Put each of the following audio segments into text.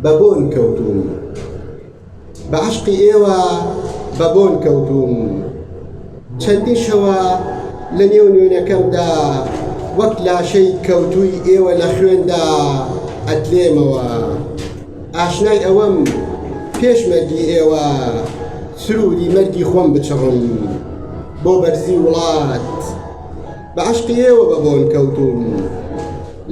بە بۆن کەوتووم بە عەشقی ئێوە بە بۆن کەوتووم چەندی شەوە لە نێو نوێنەکەمدا وەک لاشەی کەوتووی ئێوە لە خوێندا ئەتلێمەوە ئاشنای ئەوەم پێشمەرگی ئێوە سروری مەرگی خۆم بچڕم بۆ بەرزی وڵات بە عەشقی ئێوە بە بۆن کەوتووم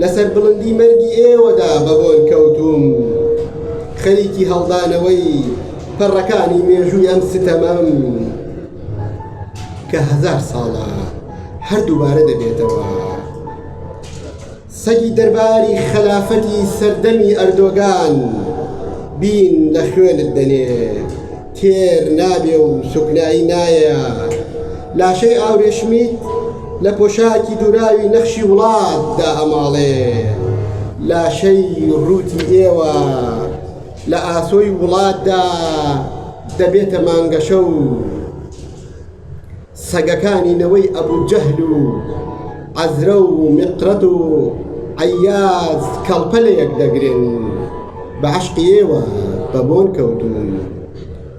لەسەر بڵندی مەرگی ئێوەدا بە بۆن کەوتووم خەریکی هەڵدانەوەی پەڕەکانی مێژووی ئەم ستەمەم کە هەزار ساڵە هەر دووبارە دەبێتەوە. سەگی دەرباری خەلافەتی سەردەمی ئەردۆگان بین لە خوێنت دەنێ تێر نابێ و سوکنایی نایە لاشەی ئاورێشمیت لە پۆشاکی دوراوی نەخشی وڵات دائەماڵێ لاشەی ڕووتی ئێوە لە ئاسۆی وڵاتدا دەبێتە مانگەشە و سەگەکانی نەوەی ئەبو جەهل و عەزرە و میقرەت و عەیاز کەڵپە لە یەک دەگرن بە عەشقی ئێوە بە بۆن کەوتوون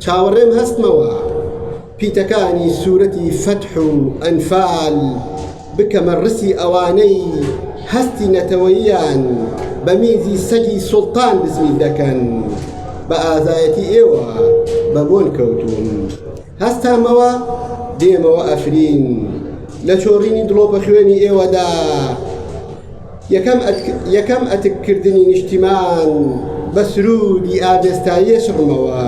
چاوەڕێم هەستمەوە پیتەکانی سوورەتی فەتح و ئەنفال بکەمە ڕسی ئەوانەی هەستی نەتەوەییان بە میزی سەگی سوڵتان بزوی دەکەن بە ئازایەتی ئێوە بە بۆن کەوتوون هەستامەوە دێمەوە ئەفرین لە چۆڕینی دڵۆپە خوێنی ئێوەدا یەکەم ئەتککردنی نیشتیمان بە سرودی ئاڤێستاییە شڕمەوە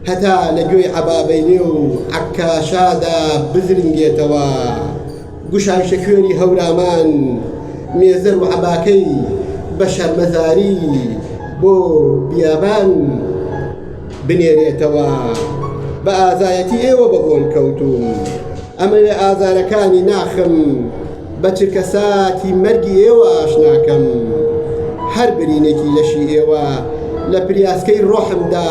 هەتا لە گوێی عەبابەیلێ و عەکاشادا بزرنگێتەوە. گوشارکێ کوێری هەورامان مێزەر و عەباکەی بە شەرمەزاری بۆ بیابان بنێرێتەوە بە ئازایەتی ئێوە بە بۆن کەوتوون ئەمەوێ ئازارەکانی ناخم بە چرکە ساتی مەرگی ئێوە ئاشناکەم هەر برینێکی لەشی ئێوە لە پریاسکەی ڕۆحمدا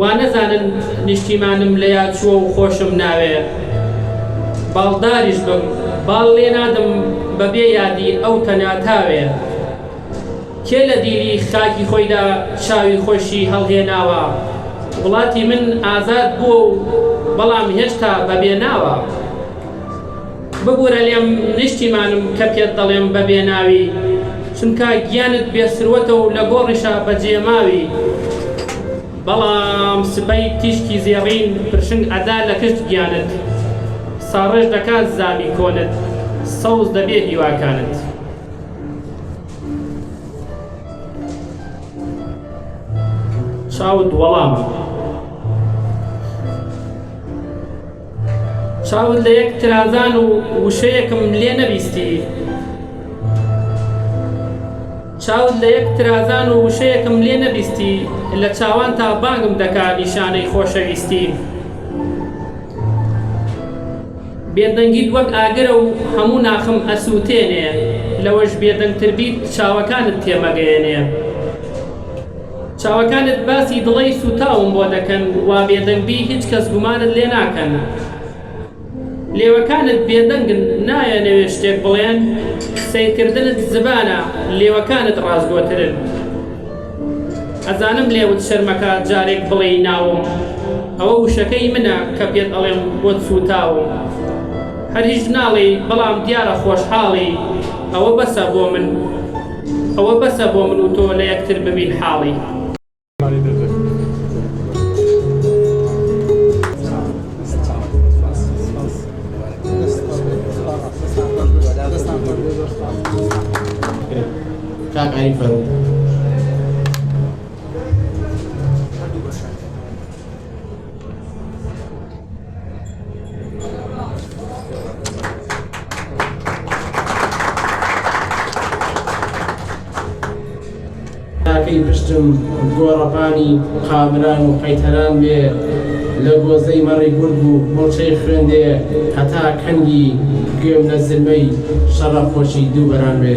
وانەزانن نیشتیمانم لە یاد چووە و خۆشم ناوێ باڵداریش بم باڵ لێ نادەم بە بێ یادی ئەو تەنیا تاوێ کێ لە دیلی خاکی خۆیدا چاوی خۆشی هەڵهێناوە وڵاتی من ئازاد بووە و بەڵام هێشتا بە بێ ناوە. ببورە لێم نیشتیمانم کە پێت دەڵێم بە بێ ناوی چونکا گیانت بێ سروەتە و لە گۆڕیشا بە جێ ماوی بەڵام سبەی تیشکی زێڕین پرشنگ ئەدا لە کشت گیانت ساڕێژ دەکات زامی کۆنت سەوز دەبێ هیواکانت. چاوت وەڵامە. چاوت لە یەک ترازان و وشەیەکم لێ نەبیستی چاوت لە یەک ترازان و وشەیەکم لێ نەبیستی لە چاوان تا بانگم دەکا نیشانەی خۆشەویستی بێدەنگیت وەک ئاگرە و هەموو ناخم ئەسووتێنێ لەوەش بێدەنگتر بیت چاوەکانت تێمەگەیەنێ چاوەکانت باسی دڵەی سوتاوم بۆ دەکەن وا بێدەنگ بی هیچ کەس گومانت لێ ناکەن لێوەکانت بێدەنگن نایانەوێ شتێک بڵێن سەیرکردنت زبانە لێوەکانت ڕاستگۆترن ئەزانم لێوت شەرمەکا جارێک بڵێی ناوم ئەوە وشەکەی منە کە پێت ئەڵێم بۆت سوتاوم هەر هیچ ناڵێی بەڵام دیارە خۆشحاڵی ئەوە بەسە بۆ من. ئەوە بەسە بۆ من و تۆ لە یەکتر ببین حاڵی. کاک ئاری فەرو تاکەی پشتم گۆڕەپانی قابران و قەیتەران بێ لە گۆزەی مەڕی گورگ و موڵچەی خوێندێ هەتا کەنگی گوێم لە زرمەی شەڕە خۆشی دووبەران بێ